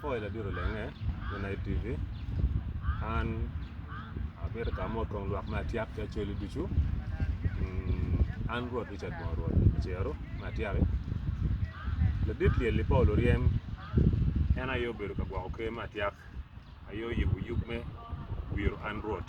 Oil abito lenge me Night TV. An abito ka mo twong lwak me atyak ki acholi ducu. Mm, an Rwot Richard Bongo Rwot Acero me atyaki. Ladit lyel-li Paul Oryem en aye obedo ka gwoko ker me atyak, aye oyubo yub me wiro an Rwot.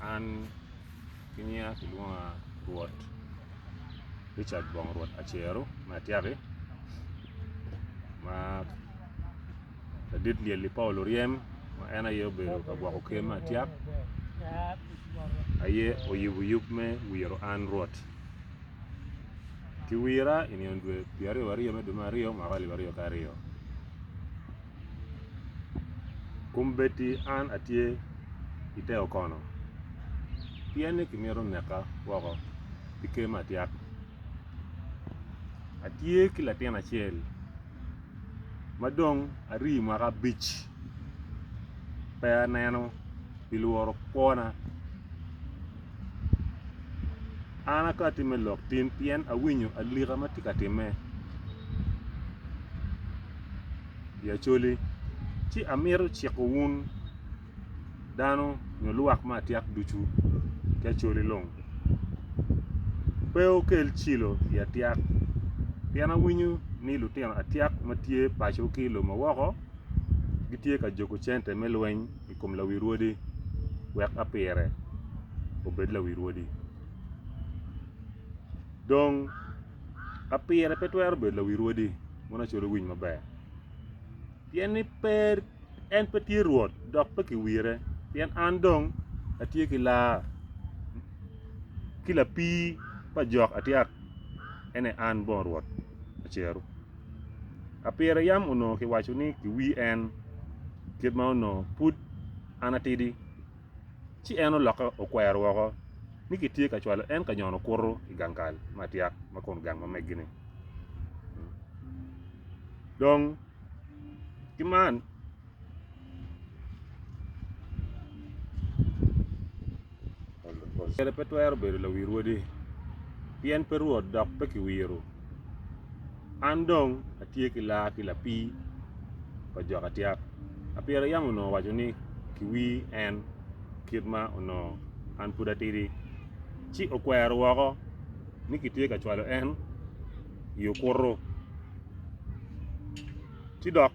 An ki nyinga kilwonga Rwot Richard Bong Rwot Acero me Atyaki ma ladit lyel i Paulo ryem ma en aye obedo ka gwoko ker me atyak aye oyubo yub me wiro an Rwot. Kiwira i nino dwe pyeraryo waryo me dwe me aryo mwaka alip aryo ki aryo. Kombeddi an atye i te okono, pien ni kimito neka woko pi ker me atyak. Atye ki latin acel ma dong arii mwaka abic pe aneno pi lworo kwona. An akoto atim me lok tim pien awinyo alika ma tye ka timme i Acholi, ci amito ciko wun dano nyo lwak me atyek ducu ki Acholi long pe wukel cilo i atyek pien awinyo ni lutino atyek ma tye paco ki i lobo ma woko gitye ka juko cente me lweny. i kom lawi rwodi, wek apire obed lawi rwodi. Dong, apire pe twero bedo lawi rwodi mono acwalo winy maber, pien ni pe en pe tye Rwot dok pe kiwire, pien an dong atye ki lar, ki lapii pa jok atyek, en aye an bong Rwot Acer-ru. Apire yam onongo kiwaco ni kiwi en, kit ma onongo pud an atidi. Ci en olokke okwero woko ni kitye ka cwalo en ka nyono kuto i gang kal me atyak ma kun gang ma meggi-ni. Dong ki man Kacel pe twero bedo lawi rwodi, pien pe Rwot dok pe kiwiro. An dong atye ki laa ki lapii pa jo ka tyap. Apira yam onongo owaco ni, Kiwir en, kit ma onongo an pud atidi, ci okwero woko ni kitye ka cwalo en i okuto. Ci dok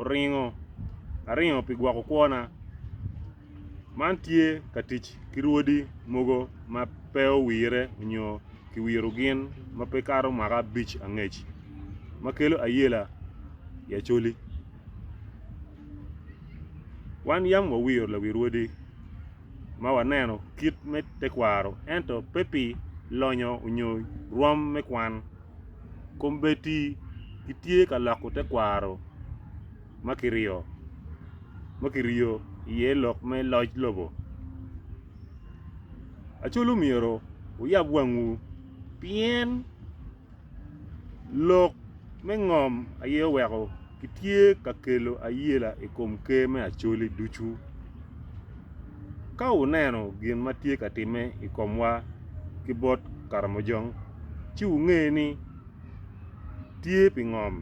oringo aringa pi gwoko kwona. Man tye ka tic ki rwodi mogo ma pe owire nyo ki wiro gin ma pe kato mwaka abic angec ma kelo ayela i Acholi. Wan yam wawiro lawi rwodi ma waneno kit me tekwaro ento pe pi lonyo nyo rwom me kwan. Kombeddi gitye ka loko tekwaro ma kiriyo iye lok me loc lobo. Acolu myero wuyab wangwu pien lok me ngom aye oweko. Kitye ka kelo ayela i kom Ker me Acholi ducu. Ka wuneno gin ma tye ka timme i komwa ki bot Karamojong, ci wunge ni tye pi ngom.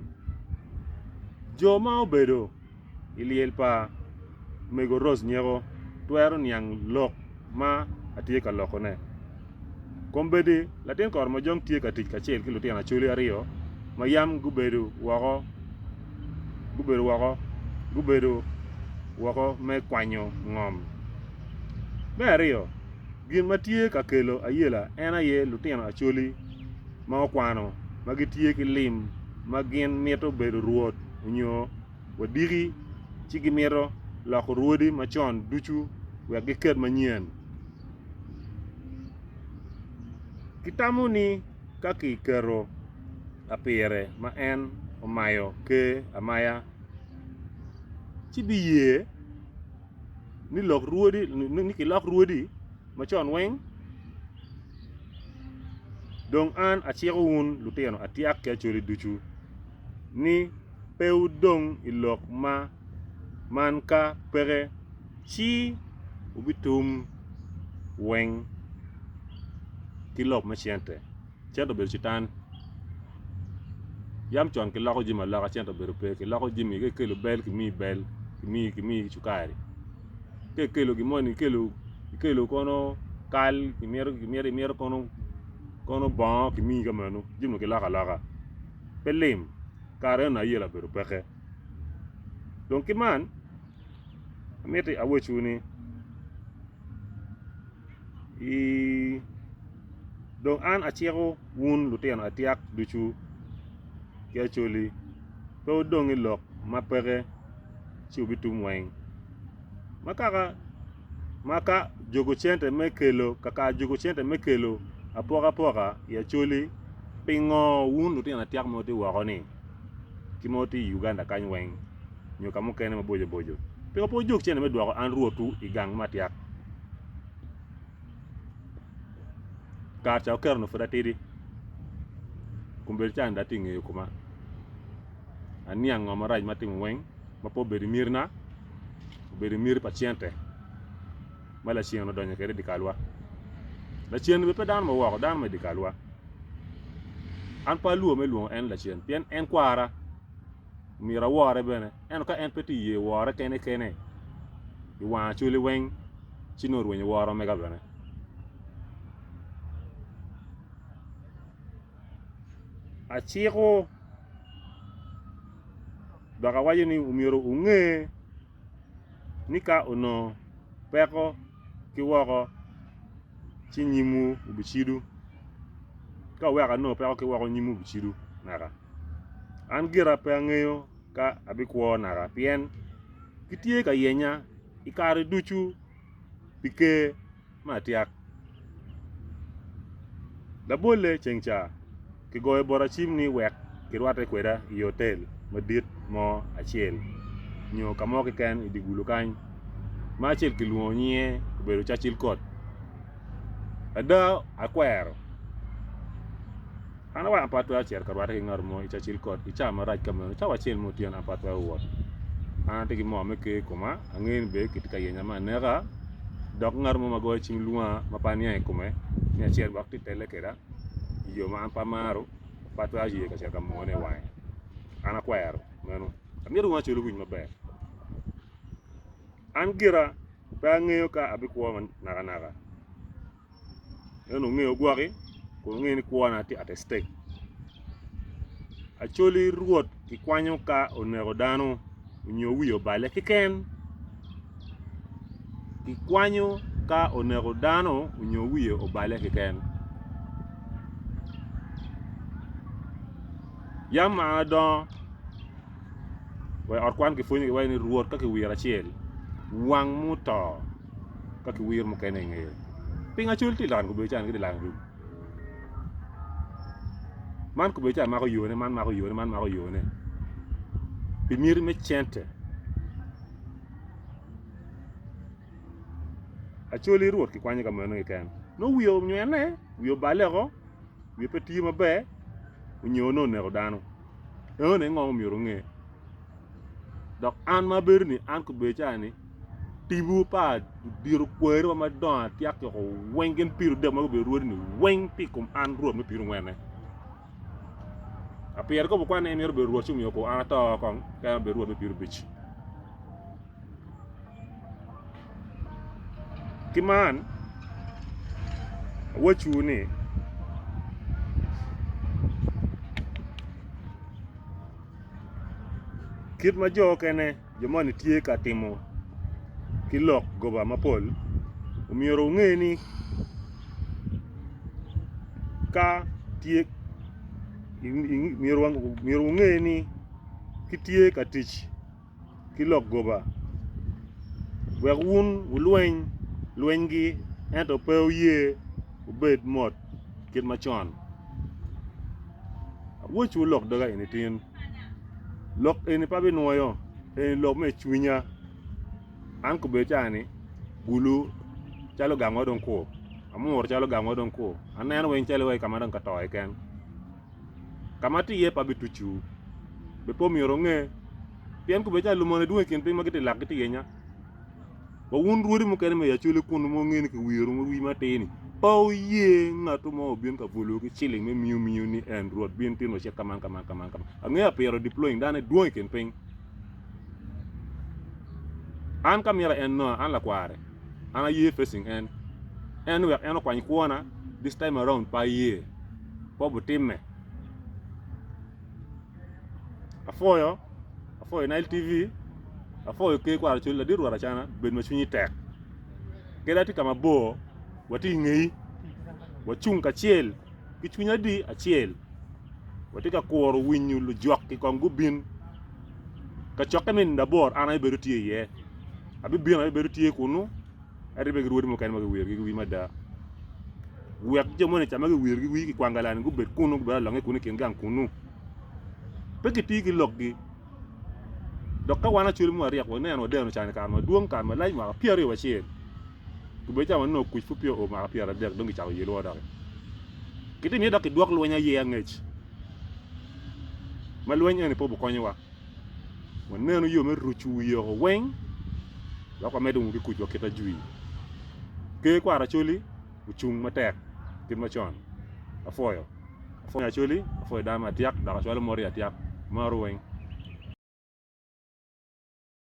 Jo ma obedo i lyel pa Mego Rose Nyeko twero niang lok ma atye ka lokone. Kombeddi latin koromojong tye ka tic kacel ki lutino acholi aryo ma yam gubedo woko gubedo woko gubedo woko me kwanyo ngom. Me aryo, gin ma tye ka kelo ayela en aye lutino acholi ma okwano ma gitye ki lim ma gin mito bedo rwot onyo wadiki ci gimito loko rwodi macon ducu wek giket manyen. Gitamo ni ka kiketo lapire ma en omayo Ker amaya ci biye ni lok rwodi ni kilok rwodi macon weng dong an aciko wun lutino atyak ki acholi ducu. ni pe wudong i lok ma man ka peke ci wubitum weng ki lok me cente, cente obedo citan. Yam con kiloko jami aloka cente obedo pe, kiloko jami ka ikelo bel kimiyi bel kimiyi kimiyi cukari ka ikelo gin moni ikelo ikelo kono kal imito imito imito kono kono bongo kimiyi ka meno jami kiloko aloka. pe lim, kare eno aye labedo peke. Dong ki man, amiti awecwu ni, i dong an aciko wun lutino atyak ducu ki acoli, pe wudong i lok ma peke ci wubitum weng. Ma kaka. ma ka juko cente me kelo kaka juko cente me kelo apokapoka i Acholi pingo wun lutino atyaka ma wutye woko ni ki ma wutye i Uganda kany weng nyo ka mukene maboco boco pingo pe wujok cente me dwoko an Rwotwu i gang ma tyak? Kare ca oketo nyo pud atidi kombeddi cani dong atye i ngeyo kuma aniang ngo marac ma atimo weng ma pe obedo i mitna. obedo i miti pa cente ma lacen odonyo kwede i dye kalwa. Lacen bene pe dano ma woko, dano ma i dye kalwa. An pe alwor me lwongo en ni lacen pien en kwara, myero awore bene. Ento ka en pe tye iye wora kene kene i wang acwali weng ci nongo orwenyo woro mega bene. Aciko. Dok awaco ni omyero wunge ni ka onongo peko ki woko, ci nyimwu obicido. Ka wuweko anongo peko ki woko, nyimwu obicido naka. An gira pe angeyo ka abikwo naka, pien gitye ka yenya i kare ducu pi Ker. me atyak. Labolle ceng ca, kigoyo bota cim ni wek kirwatte kweda i otel madit mo acel nyo ka mo keken i dye gulu kany, ma acel kilwongo nyinge obedo Churchill Court. Ada akwero. An aweko apat twero cito ka rwatte ki ngat mo i Cacil Kot i cawa marac ka meno. Cawa acel ma otyeno apat twero wot. An atye ki moo me ker i koma, angeyo ni bene kitye ka yenya me aneka, dok ngat mo ma goyo cim lwonga ma pe aniang i kome ni acel wek tye telle kweda i yo ma an pe amaro, pe atwero ye ka cito ka moone i wange. An akwero meno. Amito wunu acel owinj maber. An gira pe angeyo ka abikwo nakanaka. en ongeyo gwaki kun ongeyo ni kwona tye at stake Acholi Rwot kikwanyo ka oneko dano nyo wiye obale keken kikwanyo ka oneko dano nyo wiye obale keken Yam ma an adongo wa i ot kwan kipwonyogi iwaci ni Rwot ka kiwiro acel wang muto ka ki wir mukene i ngeye. Ping acol ti lano kubedo can kiti lano dul. Man kubedo can mako yone, man mako yone, man mako yone. Pi miti me cente. Acoli Rwot ki kwanye ka meno keken. No wiye onywene, wiye obale oko, wiye pe tiyo maber, onyo ne oneko dano. Eno ne ngom myero onge. Dok an ma abedo ni an kubedo can ni Tipo pa diro kwerewa madongo atyaka yoko weng gin piro dek ma gubedo rwodi-ni weng pi kom an Rwot me pirongwene. A pire kobo kwan ni en mito bedo Rwot ci omiyo kor an ato kong ka en obedo Rwot me pirobic. Ki man, awacciwu ni, kit ma jo okene jo moni tye ka timo ki lok goba mapol, omyero wunge ni ka tye myero wunge ni kitye ka tic ki lok goba wek wun wulweny lwenygi ento pe wuye wubed mot kit macon. Awocwu lok doga eni tin. Lok eni pe abinwoyo, eni lok me cwinya. An kobedo ca ni, Gulu calo gang wa dong kur, Amuru calo gang wa dong kur, aneno weng calo wa i ka ma dong ka to keken. Ka ma atye iye pe abitucciwu, be pe omyero onge? Pien kobedo ca lumone dwong i kin piny ma gitye lak gitye yenya. Wa wun rwodi mukene me i Acholi kunu ma wungene ki wiru ma wi matir-ni, pe wuye ngatu mo obin ka bolowu ki ciling me miu miu ni en Rwot bin timo cik ka man ka man ka man ka man. Angeya pire diploing dane dwong i kin piny. An ka mira en Noah, an lakware, an aye facing en. En wek en okwany kwona, this time around pe aye. Kobo timme. Apwoyo, apwoyo nile TV, apwoyo ker kwaro col ladit rwot acana bed ma cwinyi tek. Kadi atye ka ma bor watye i ngeyi, wacung kacel ki cwiny adi acel watye ka kuro winyo lujwak-ki kong gubin kacokke me nino abor an aye bedo tye iye, abibino aye bedo tye kunu. ento bene ki rwodi mukene ma giwirogi ki wii mada. Wek jo moni ca ma giwirogi wii ki kwang galani gubed kunnu, gubed alonge kunnu i kin gang kunnu. Pe gitii ki lokgi. Dok ka wan acwele mwa ryek waneno wadeno can i kare madwong, kare malac mwaka pyera aryo wacel, gubedo ca wanongo kuc pud peya oo mwaka pyera adek dong gicako yelowa doki. Gitimi iye dok kidwok lweny aye angec, ma lweny eni pe obikonyowa. waneno yo me rucu wi yoko weng dok wamedo ki kuc wa kit ajwir. Ker kwaro Acholi ocung matek kit macon apwoyo apwonya Acholi apwoyo dano me atyak dok acwalo mot i atyak maro weng.